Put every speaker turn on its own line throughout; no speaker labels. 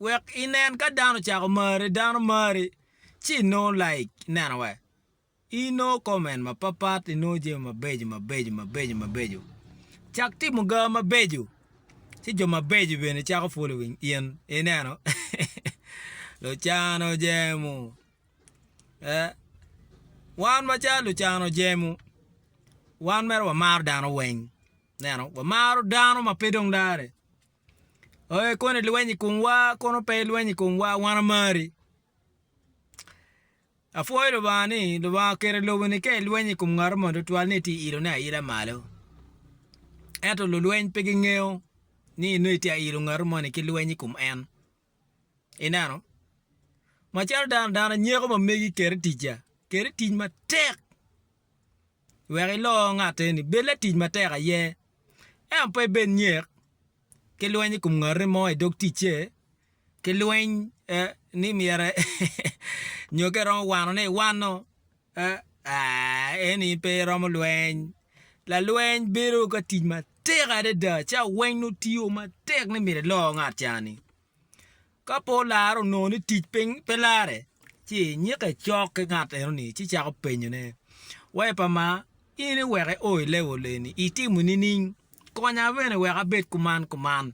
wek inen ka dano ocako mari, dano mari ci inongo like ineno wa inongo comment mapapat inongo jami mabeco mabeco mabeco mabeco cak timo ga mabeco ci jo mabeco bene cako following in ineno lucano jemo wan macalo lucano jemo wan mere wamaro dano weng ineno wamaro dano ma pe dong dare. Oye kono ilweny i komwa kono pe ilweny i komwa wan amari. Apwoyo Lubanga ni Lubanga oketo i lobo ni ka ilweny i kom ngat mo tutwal ni itye ilone aila malo. Ento lulweny pe gingeyo ni nongo itye ilo ngat mo ni ki lweny i kom en. Ineno? Macalo dano, dano anyeko ma megi keri ticca, keri tic matek wek ilo ngatte eni, bed latic matek aye, ento pe ibed nyek ki lweny i kom ngati mo i dog ticce, ki lweny ni myero nyo ka iromo wanone iwano. Aa, eni pe iromo lweny. Lalweny bedo ka tic matek adada ca weng nongo tiyo matek ni myero ilo ngat ca-ni. Ka pe olare onongo ni tic pe lare, ci inyikke cok ki ngat enoni ci icako penyone, Wa i pa ma, in iweka io i level eni, itimo nining? Konya bene wek abed kuman kuman.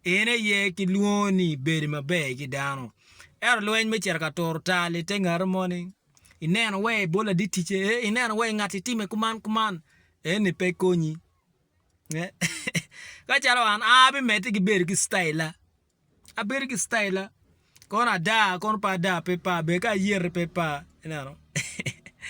En aye ki lwongo ni bedo maber ki dano. Ento lweny me cito ka turo tal i te ngati moni, ineno wai i bol laditice, eh, ineno wai ngati time kuman kuman, eh, ni pe konyi. Ka calo an, a abimedde ki bedo ki staila. Abedo ki staila. Kono ada, kono pe ada, pe pa, ber ka ayerre pe pa, ineno.